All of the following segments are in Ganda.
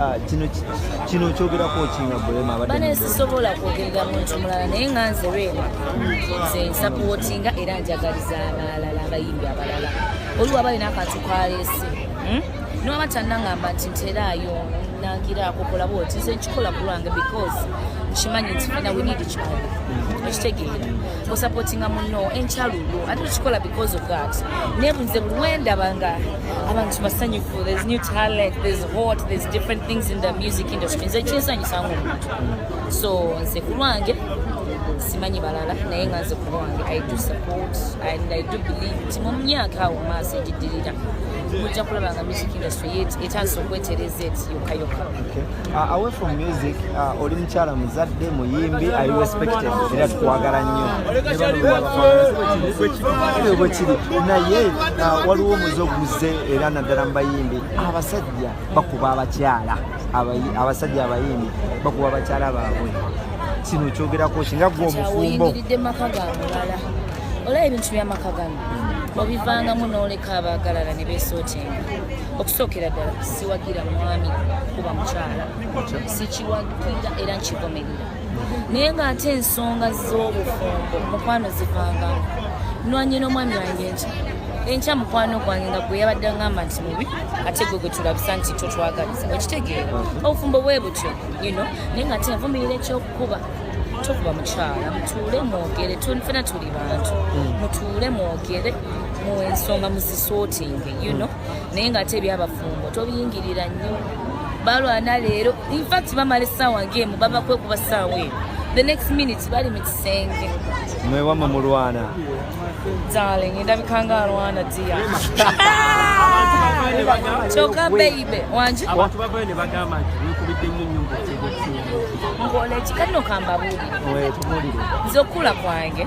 Ah, kino kino kyogerako kinga bulema abadde bane sisobola kwogerera muntu mulala naye nga nze lwema nze nsapowotinga era njagaliza abalala abayimbi abalala oliwo aba alina akantu kaleese hmm? noba tanangamba nti nteraayo nangiraako kola bwoti nze nkikola kulwange because nkimanyi nti fina we need each other okitegeera osapotinga muno enkyalulo ate tukikola because of that naye bunze buli wendaba nga abantu basanyufu there's new talent there's hot there's different things in the music industry nze kinsanyusa ngaomuntu so nze ku lwange simanyi balala naye nga nze ku lwange i do support and i do believe nti mu myaka awo maaso egiddirira mujja kulaba nga music industry yet etandisa okwetereza eti yokka yokka Uh, away from music uh, oli mukyala muzadde muyimbi i respected era tukwagala nnyo bwekiri naye uh, waliwo omuze oguze era naddala mu bayimbi abasajja bakuba abakyala abasajja abayimbi bakuba abakyala baabwe kino kyogerako kinga gwe omufumbo olaba ebintu byamaka gano obivangamu noleka abaagalala ne besotenga okusookera ddala siwagira mwami kuba mukyala sikiwagira era nkigomerera naye ng'ate ensonga z'obufumbo mukwano zivangamu nwanye n'omwami wange nti enkya mukwano gwange nga gwe yabadde ngamba nti mubi ate gwe gwe tulabisa nti totwagaliza okitegeera obufumbo bwe butyo yino naye ng'ate envumirira ekyokukuba tokuba mukyala mutuule mwogere fena tuli bantu hmm. mutuule mwogere mu ensonga muzisootinge you know naye nga ate ebyabafumbo tobiyingirira nnyo balwana leero infact bamala essaawa ngaemu bava kwekuba ssaawa eyo the next minute bali mu kisenge mwewama mulwana darling endabikanga alwana dia kyoka beibe wangi ngola ekikadino kambabuulire nze okukula kwange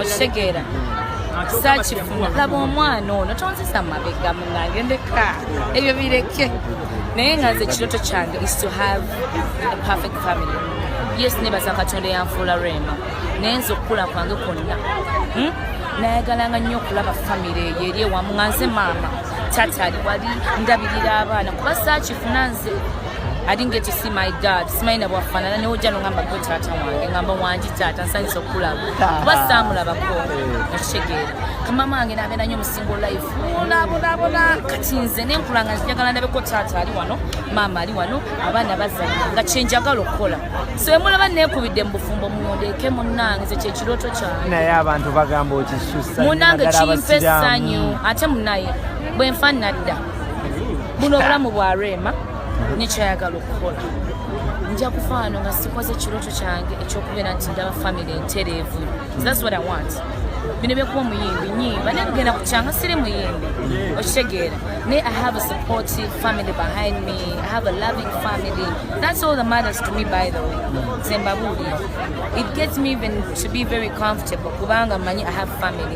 okitegeera sakifuna laba omwana ono tonzisa mabega munange ndeka ebyo bireke naye nga nze ekiroto kyange is to have a perfect family yes nebaza katonda eyanfuula rema naye nze okukula kwange kwonna hmm? nayagalanga nnyo okulaba famire eyo eri ewamu nga nze maama tata ali wali ndabirira abaana kuba sakifuna nze I didn't get to see my dad. Simanyi na bwafanana ne ojja nongamba gwe taata wange ngamba wangi taata nsanyusa okulaba kuba saamulabako okitegeera eh. kamama wange nabeera nyo musingo life olabonabona kati nze nenkula nga njagala ndabeko taata ali wano maama ali wano abaana bazala nga kyenjagala okukola so emulaba nekubidde mu bufumbo mundeeke munange ze kyekirooto kyange naye abantu bagamba okisusa munange kimpa essanyu ate munaye bwenfa nadda buno obulamu bwa rema nekyayagala okukola nja kufaano nga sikoze ekirooto kyange ekyokubeera nti ndaba famiry entereevu thats what i want bino byekuba omuyimbi nyimba naye kugenda kukyanga siri muyimbi okitegeera naye i have a supportive family behind me i have a loving family that's all the mothers to me by the way zembabuulira it gets me even to be very comfortable kubanga manyi i have family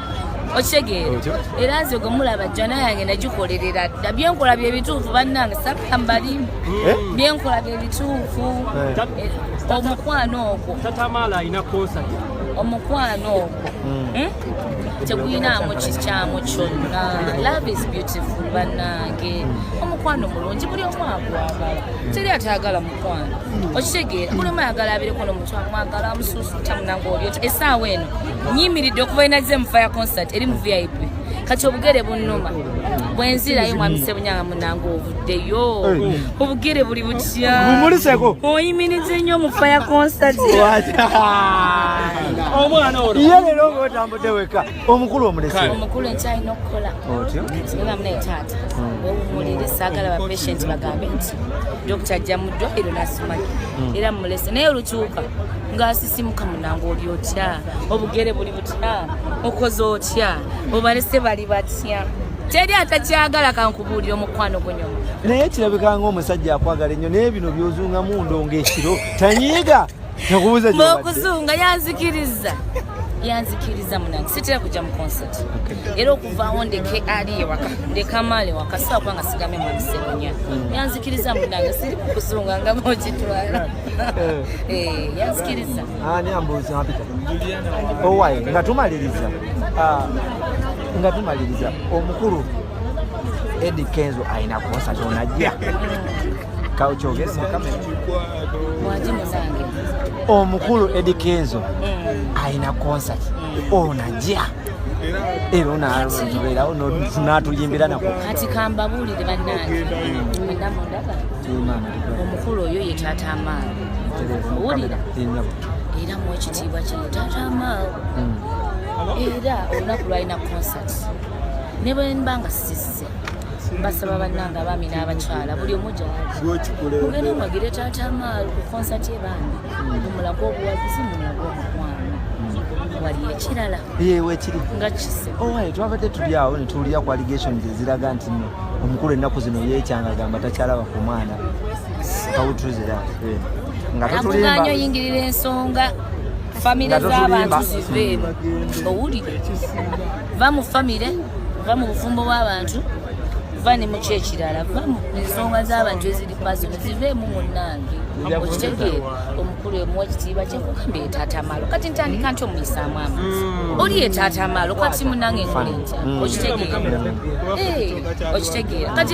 okitegeera era nze gwe mulaba jjana yange nagikolerera dda byenkola bye bituufu bannange sakka mbalimu eh? byenkola bye bituufu eh. eh, omukwano ogwo omukwano ogwo hmm. hmm? teguyinaamu kikyamu kyonna love is beautiful bannange omukwano mulungi buli omu agwagala teri atayagala okitegeera buli omu ayagala abireko nomuntu amwagala amususuta munange obyota esaawa eno nyimiridde okuva inaze mu fire concert eri mu vip kati obugere bunuma bwenzirayo mwami sebunyanga munange ovuddeyo obugere buli butya oyimirize nnyo mu fire concert omwana olwo ye lero ngaotambudde weka omukulu omulese omukulu nkyalina okukola nga mune taata wewumulire saagala ba patient bagambe nti dokita ajja mu ddwaliro nasimanyi hmm. era mulese naye olukyuka ngaasisimuka munange oli otya obugere buli butya okoze otya obalese bali batya teri atakyagala kankubuulira omukwano gunyo naye kirabikanga omusajja akwagala ennyo naye bino byozungamu ndonga ekiro tanyiiga Nakubuza je. Mokuzunga yanzikiriza. Yanzikiriza munange. Sitira kuja mu concert. Okay. Era okuva on the KRI e waka. De kamale waka sawa kwanga sigame mu sekonya. Mm. Yanzikiriza munange siri kuzunga nga moji twala. Eh. eh, yanzikiriza. Ah, ni ambuza hapita. Juliana. Oh, why? Ngatumaliriza. Ah. Ngatumaliriza. Omukuru Eddie Kenzo aina concert onajja. omukulu edi kenzo mm. alina concert mm. onajja era onaloberawo natuyimbira nako kati kambabulire banange omukulu oyo ye taata amaalo owulira era mu ekitiibwa kino taata amaalo mm. era olunaku lwalina concert ne bwe mba nga sisise mbasaba bannange abaami n'abakyala buli omu gyagenda omwagire taata amaalo ku konsati ebandi mumulaga obuwagizi mumulaga omukwano wali ekirala yewe kiri nga kise owaye oh, twabadde tuli awo ne tuwulira ku allegations eziraga nti no omukulu ennaku zino yeekyanga gamba takyalaba ku mwana kawutuzira eh, nga tutulimbaanyo oyingirira ensonga famire z'abantu zive owulire va mu famire va mu bufumbo bw'abantu va ne mu kyekirala va mu ensonga z'abantu eziri pasono ziveemu munnange okitegeera omukulu emuwa ekitiibwa kyekugamba etatamalo kati ntandika nti omuyisaamu amaaso mm. oli etatamalo kati munange nkole ntya okitegeera eh, okitegeera kati